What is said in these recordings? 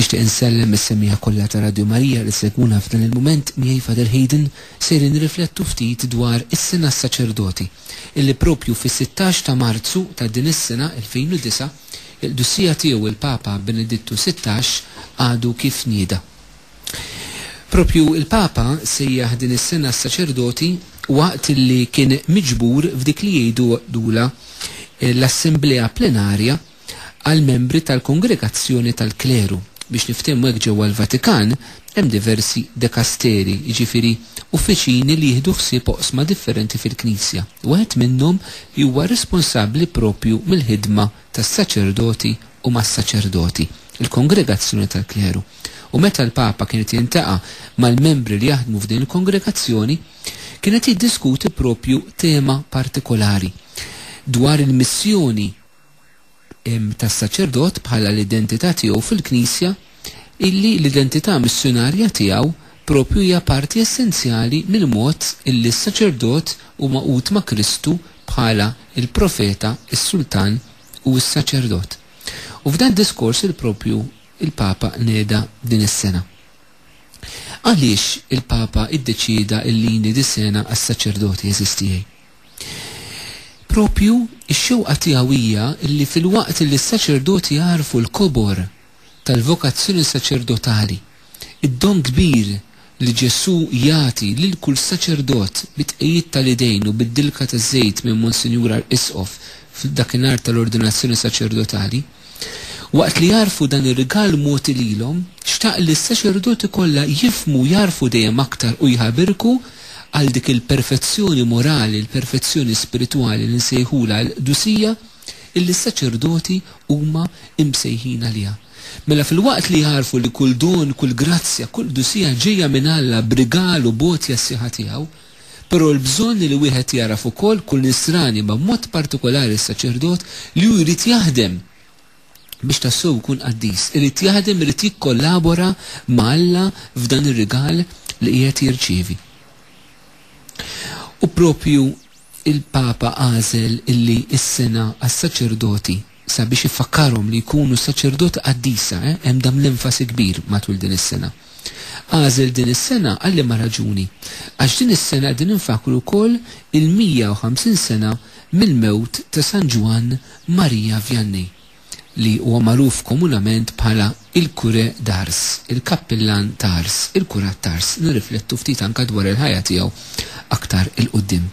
Nixtieq insellem lis-semmiegħa kollha ta' Radju Marija li segwuna f'dan il-mument miegħi Father Hayden sejrin nirriflettu ftit dwar is-Sena s-Saċerdoti illi propju fis-sittax ta' Marzu ta' din is-sena 2009 il-Qdussija Tiegħu il-Papa Benedittu sittax għadu kif nieda. Propju il-Papa sejjaħ din is-Sena s-Saċerdoti waqt illi kien miġbur f'dik li jgħidulha l-Assemblea Plenarja għall-membri tal-kongregazzjoni tal-kleru. Biex niftehmu hekk ġewwa l-Vatikan hemm diversi dekasteri, jiġifieri uffiċini li jieħdu ħsieb oqsma differenti fil-Knisja. Wieħed minnhom huwa responsabbli proprju mill-ħidma tas-saċerdoti u mas-saċerdoti, il-kongregazzjoni tal-kleru. U meta l-Papa kien qed jiltaqa' mal-membri li jaħdmu f'din il-kongregazzjoni, kien qed jiddiskuti proprju tema partikolari dwar il-missjoni tas-saċerdot bħala l-identità tiegħu fil-Knisja, illi l-identità missjunarja tiegħu proprju hija parti essenzjali mill-mod illi s-saċerdot hu magħqud ma' Kristu bħala l-Profeta, is-Sultan, u s-Saċerdot. U f'dan id-diskors li proprju l-Papa neda din is-sena. Għaliex il-Papa iddeċieda illi jniedi sena għas-saċerdoti, għeżież tiegħi? Proprju, ix-xewqa tiegħu hija li filwaqt li s-saċerdoti jagħrfu l-kobor tal-vokazzjoni saċerdotali, id-don kbir li Ġesù jagħti lil kull saċerdot bi tqegħid tal-idejn u bid-dilka taż-żejt minn Monsinjur Arqisqof f'dakinhar tal-ordinazzjoni saċerdotali, Waqt li jagħrfu dan ir-rigal mogħti lilhom, xtaq li s-saċerdoti kollha jifhmu u jagħrfu dejjem aktar u jħabirku għal dik il-perfezzjoni morali, il-perfezzjoni spiritwali li nsejħulha l-qdusija illi s-saċerdoti huma msejħin għaliha. Mela filwaqt li jagħrfu li kull don, kull grazzja, kull qdusija ġejja minn Alla b'rigal u b'għotja s-sieħa tiegħu, Però l-bżonn li wieħed jagħraf ukoll kull Nisrani ma b'mod partikolari s-saċerdot li hu jrid jaħdem biex tassew ikun qaddis. Irid jaħdem irid jikkollabora ma' Alla f'dan ir-rigal li qiegħed jirċievi. U proprju il-Papa għażel illi s-sena għas-saċerdoti sabiex ifakkarhom li jkunu saċerdot qaddisa, hemm dan l-enfasi kbir matul din is-sena. Għażel din is-sena għal liema raġuni? Għax din is-sena qegħdin infakkru wkoll il-150 sena mill-mewt ta' San Ġwann Marija Vianney, li huwa magħruf komunament bħala il-Curé d'Ars, il-Kappillan ta' Ars, il-Kurat t'Ars. Nirriflettu ftit anke dwar il-ħajja tiegħu aktar 'il quddiem.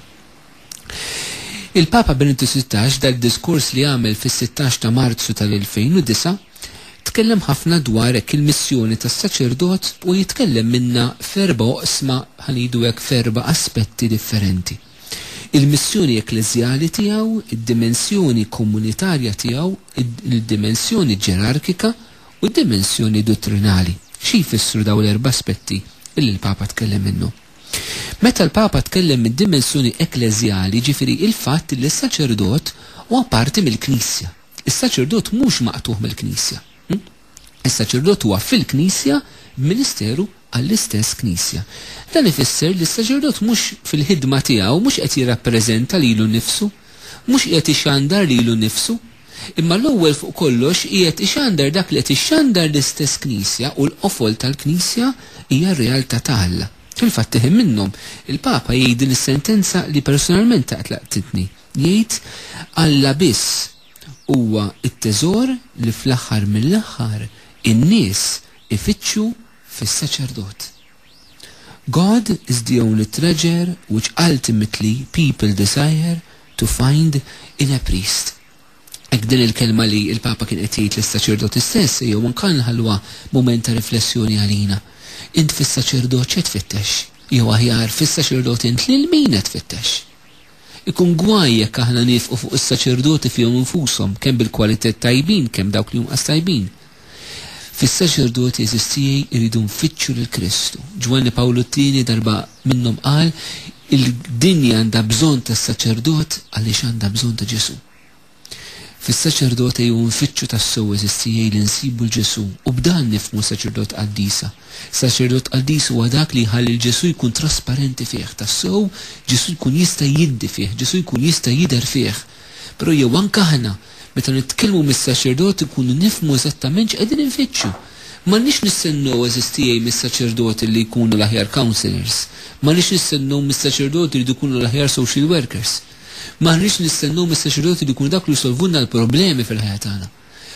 Il-Papa Benedittu Sittax f'dal-diskors li għamel fis-sittax ta' Marzu tal-2009 tkellem ħafna dwar hekk il-missjoni tas-saċerdot u jitkellem minnha f'erba' oqsma ħa ngħidu hekk f'erba' aspetti differenti. Il-missjoni ekkleżjali tiegħu, id-dimensjoni komunitarja tiegħu, il-dimensjoni ġerarkika u d-dimensjoni duttrinali. Xi jfissru dawn l-erba' aspetti li l-Papa tkellem minnhom? Meta l-Papa tkellem mid-dimensjoni ekkleżjali, jiġifieri il-fatt li s-saċerdot huwa parti mill-Knisja. Is-saċerdot mhux maqtugħ mill-Knisja. Is-saċerdot huwa fil-Knisja b'ministeru għall-istess Knisja. Dan ifisser li s-saċerdot mhux fil-ħidma tiegħu mhux qed jirrappreżenta lilu nnifsu, mhux qiegħed ixandar lilu nnifsu, Imma l-ewwel fuq kollox qiegħed ixandar dak li qed ixxandar l-istess Knisja u l-qofol tal-Knisja hija r-realtà ta' Alla. Fil-fatt tiħin minnhom, il-Papa jgħid din is-sentenza li personalment tant laqtitni, jgħid, Alla biss huwa t-teżor li fl-aħħar mill-aħħar in-nies ifittxu fis-saċerdot. God is the only treasure which ultimately people desire to find in a priest. Hekk din il-kelma li l-Papa kien qed jgħid lis-saċerdoti stess ejjew anka nħalluha mument ta' riflessjoni għalina. Int fis-saċerdot x'qed tfittex? Jew aħjar, fis-saċerdot int lil min qed tfittex? Ikun gwaj jekk aħna niefqu fuq is-saċerdoti fihom infushom, kemm bil-kwalitajiet tajbin kemm dawk li inqas tajbin. Fis-saċerdoti għeżież tiegħi jridu nfittxu lil Kristu. Ġwanni Pawlu t-Tieni darba minnhom qal, Il-dinja għandha bżonn tas-saċerdot għaliex għandha bżonn ta' Ġesù. Fis-saċerdot ejjew nfittxu tassew għeżież tiegħi li nsibu 'l Ġesù u b'dan nifhmu saċerdot qaddisa. Saċerdot qaddis huwa dak li jħalli 'l Ġesù jkun trasparenti fih tassew, Ġesù jkun jista' jiddi fih, Ġesù jkun jista' jidher fih. Però jew anke aħna, meta nitkellmu mis-saċerdot inkunu nifhmu eżattament x'qegħdin infittxu. M'għandniex nistennew għeżież tiegħi mis-saċerdoti li jkunu l-aħjar counsellors. M'għandniex nistennew mis-saċerdoti jridu jkunu l-aħjar social workers. M'aħniex nistennew mis-saċerdoti li jkunu dak li jsolvulna l-problemi fil-ħajja tagħna.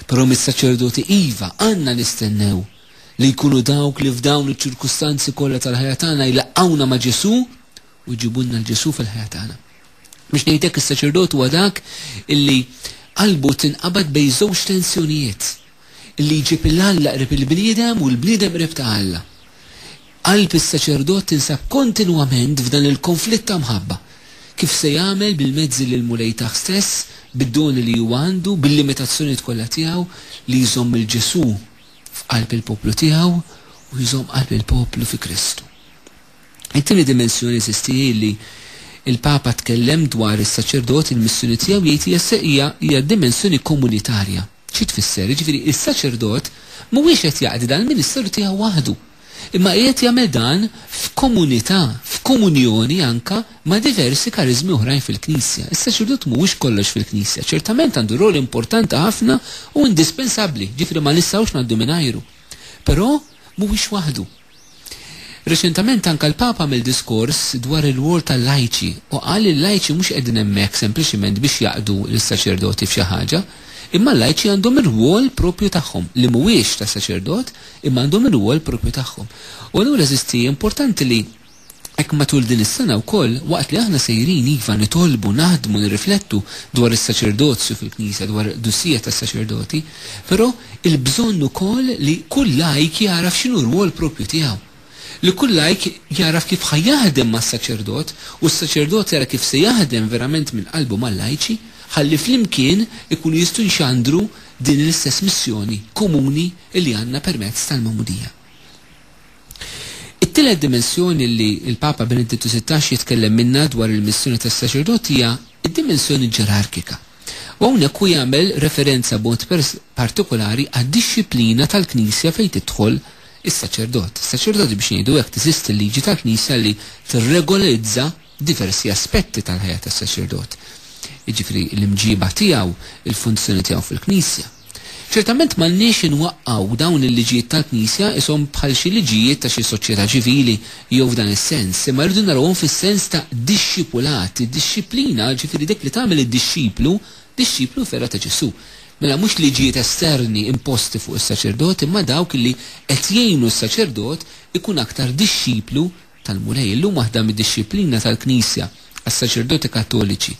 Però mis-saċerdoti iva għandna nistennew li jkunu dawk li f'dawn iċ-ċirkustanzi kollha tal-ħajja tagħna jlaqqgħuna ma' Ġesù u jġibulna 'l Ġesù fil-ħajja tagħna. Biex ngħid hekk is-saċerdot huwa dak illi qalbu tinqabad bejn żewġ tensjonijiet, illi jġib 'il Alla qrib il-bniedem u l-bniedem qrib ta' Alla. Qalb is-saċerdot tinsab kontinwament f'dan il-konflitt ta' mħabba. Kif se jagħmel bil-mezzi li l-Mulej tah stess, bid-doni li huwa għandu, bil-limitazzjonijiet kollha tiegħu, li jżomm lil Ġesù f'qalb il-poplu tiegħu u jżomm qalb il-poplu fi Kristu. It-tieni dimensjoni, eżisti, hi li l-Papa tkellem dwar is-saċerdot, il-missjoni tiegħu jgħid hija se hija hija dimensjoni komunitarja. Xi tfisser? Jiġifieri s-saċerdot mhuwiex qed jaqdi dan il-ministeru tiegħu waħdu, imma qiegħed jagħmel dan f'komunità, f'komunjoni anke ma' diversi kariżmi oħrajn fil-Knisja. Is-saċerdot mhuwiex kollox fil-Knisja, ċertament għandu rwol importanti ħafna u indispensabbli, jiġifieri ma nistgħux ngħaddu mingħajru. Però mhuwiex waħdu. Reċentament anke l-Papa għamel diskors dwar ir-rwol tal-lajċi u qal li l-lajċi mhux qegħdin hemmhekk sempliċement biex jaqdu lis-saċerdoti f'xi ħaġa, imma l-lajċi għandhom ir-rwol proprju tagħhom, li mhuwiex ta' saċerdot, imma għandhom ir-rwol proprju tagħhom. U allura, eżisti, importanti li. Hekk matul din is-sena wkoll, waqt li aħna sejrin, iva, nitolbu, naħdmu, nirriflettu dwar is-saċerdozju fil-Knisja, dwar il-qdusija tas-saċerdoti, però il-bżonn ukoll li kull lajk jagħraf x'inhu r-rwol proprju tiegħu. Li kull lajk jagħraf kif ħa jaħdem mas-saċerdot u s-saċerdot jara kif se jaħdem verament minn qalbu mal-lajċi ħalli flimkien ikunu jistgħu jxandru din l-istess missjoni komuni li għandna permezz tal-Magħmudija. It-tielet dimensjoni li l-Papa Benedittu Sittax jitkellem minnha dwar il-missjoni tas-saċerdot hija d-dimensjoni ġerarkika, u hawnhekk hu jagħmel referenza b'mod partikulari għad-dixxiplina tal-Knisja fejn tidħol is-saċerdot. Is-saċerdoti, biex ngħidu hekk, teżisti l-liġi tal-Knisja li tirregolarizza diversi aspetti tal-ħajja tas-saċerdot, jiġifieri l-imġiba tiegħu, il-funzjoni tiegħu fil-Knisja. Ċertament m'għandniex inwaqqgħu dawn il-liġijiet tal-Knisja qishom bħal xi liġijiet ta' xi soċjetà ċivili jew f'dan is-sens, imma rridu narawhom fis-sens ta' dixxipulat, id-dixxiplina, ġifieri dik li tagħmel id-dixxiplu, dixxiplu vera ta' Ġesù. Mela mhux liġijiet esterni imposti fuq is-saċerdot imma dawk li qed jgħinu s-saċerdot ikun aktar dixxiplu tal-Mulej, illum waħda mid-dixxiplina tal-Knisja għas-saċerdoti Kattoliċi,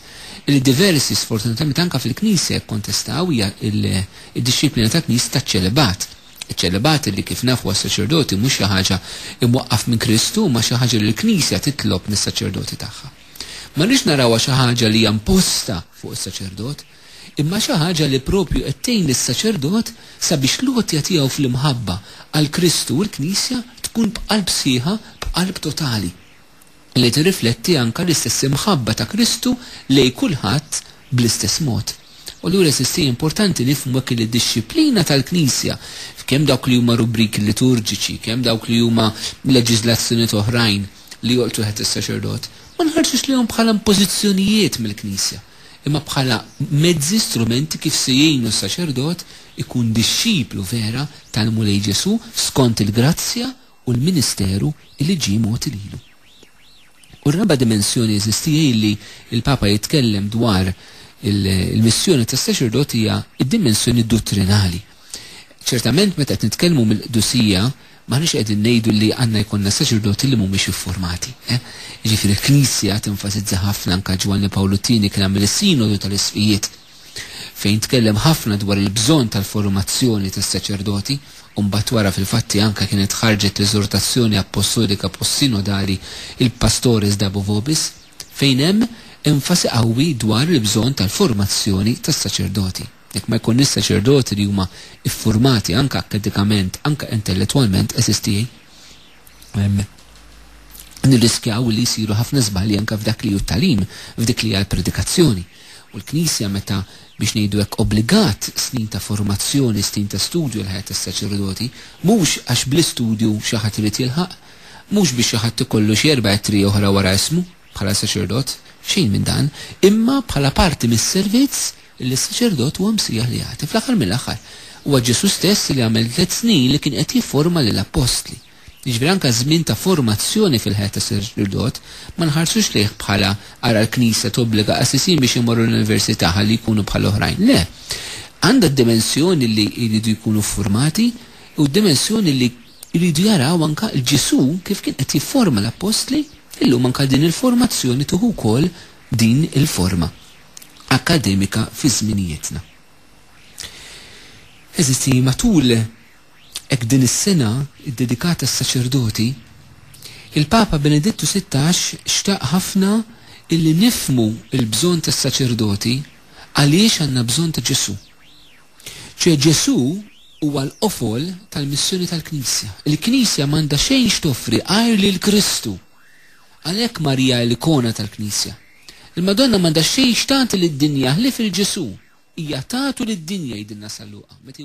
li diversi sfortunatament anke fil-Knisja jikkontestaw hija d-dixxiplina tal-Knisja taċ-ċelibat. Iċ-ċelibat li kif nafu għas-saċerdoti mhux xi ħaġa imwaqqaf minn Kristu imma xi ħaġa li l-Knisja titlob mis-saċerdoti tagħha. Ma rridx narawha xi ħaġa li hija imposta fuq is-saċerdot. imma xi ħaġa li proprju qed tgħin lis-saċerdot sabiex l-għotja tiegħu fl-imħabba għal Kristu u l-Knisja tkun b'qalb sħiħa, b'qalb totali, li tirrifletti anke l-istess imħabba ta' Kristu lejn kulħadd bl-istess mod. U allura eżisti hija importanti nifhmu hekk li d-dixxiplina tal-Knisja, f'kemm dawk li huma rubriki liturġiċi, kemm dawk li huma leġiżlazzjonijiet oħrajn li jolqtu taħt is-saċerdot, ma nħarsux lejhom bħala impożizzjonijiet mill-Knisja, imma bħala mezzi, strumenti kif se jgħinu s-saċerdot ikun dixxiplu vera tal-Mulej Ġesù skont il-grazzja u l-ministeru li ġie mogħti lilu. U r-raba' dimensjoni eżisti hi li l-Papa jitkellem dwar il-missjoni tas-saċerdot hija d-dimensjoni duttrinali. Ċertament meta qed nitkellmu mill-qdusija m'aħniex qegħdin ngħidu li għandna jkollna saċerdoti li mhumiex iffurmati. Eh? Jiġifieri l-Knisja tenfasizza ħafna anke Ġwanni Pawlu Tieni kien għamel is-Sinodu tal-Isqfijiet fejn tkellem ħafna dwar il-bżonn tal-formazzjoni tas-saċerdoti u mbagħad wara fil-fatti anke kienet ħarġet l-eżortazzjoni appostolika post-sinodali il-Pastores Dabo Vobis fejn hemm enfasi qawwi dwar il-bżonn tal-formazzjoni tas-saċerdoti. Jekk ma jkunniex saċerdoti li huma iffurmati anke akkadikament, anke intellettwalment, għeżież tiegħi, nirriskjaw li jsiru ħafna żbalji anke f'dak li hu t-tagħlim, f'dik li hija l-predikazzjoni. U l-Knisja meta biex ngħidu hekk obbligat snin ta' formazzjoni, snin ta' studju l-ħajja tas-saċerdoti, mhux għax bl-istudju xi ħadd irid jilħaq, mhux biex xi ħadd ikollu xi erba' ittri oħra wara ismu bħala saċerdot, xejn minn dan, imma bħala parti mis-servizz li s-saċerdot huwa msejjaħ li jagħti. Fl-aħħar mill-aħħar, huwa Ġesù stess li għamel tliet snin li kien qed jifforma lill-appostli. Jiġifieri anke ż-żmien ta' formazzjoni fil-ħajja tas-saċerdot ma nħarsux lejh bħala ara l-Knisja tobbliga qassisin biex imorru l-università ħalli jkunu bħal oħrajn. Le. Għandha d-dimensjoni li jridu jkunu ffurmati u d-dimensjoni li jridu jaraw anke l-Ġesù kif kien qed jifforma l-appostli, illum anke din il-formazzjoni tieħu wkoll din il-forma. akkademika fi żminijietna. Għeżiżi, matul hekk din is-sena ddedikata għas-saċerdoti, il-Papa Benedittu Sittax xtaq ħafna illi nifhmu l-bżonn tas-saċerdoti għaliex għandna bżonn ta' Ġesù. Ċe Ġesù huwa l-qofol tal-missjoni tal-Knisja. Il-Knisja m'għandha xejn x'toffri għajr lil Kristu. Għalhekk Marija l-ikona tal-Knisja. Il-Madonna m'għandha xejn x'tagħti lid-dinja ħlief il-Ġesù. Hija tatu lid-dinja jgħidilna San Luqa meta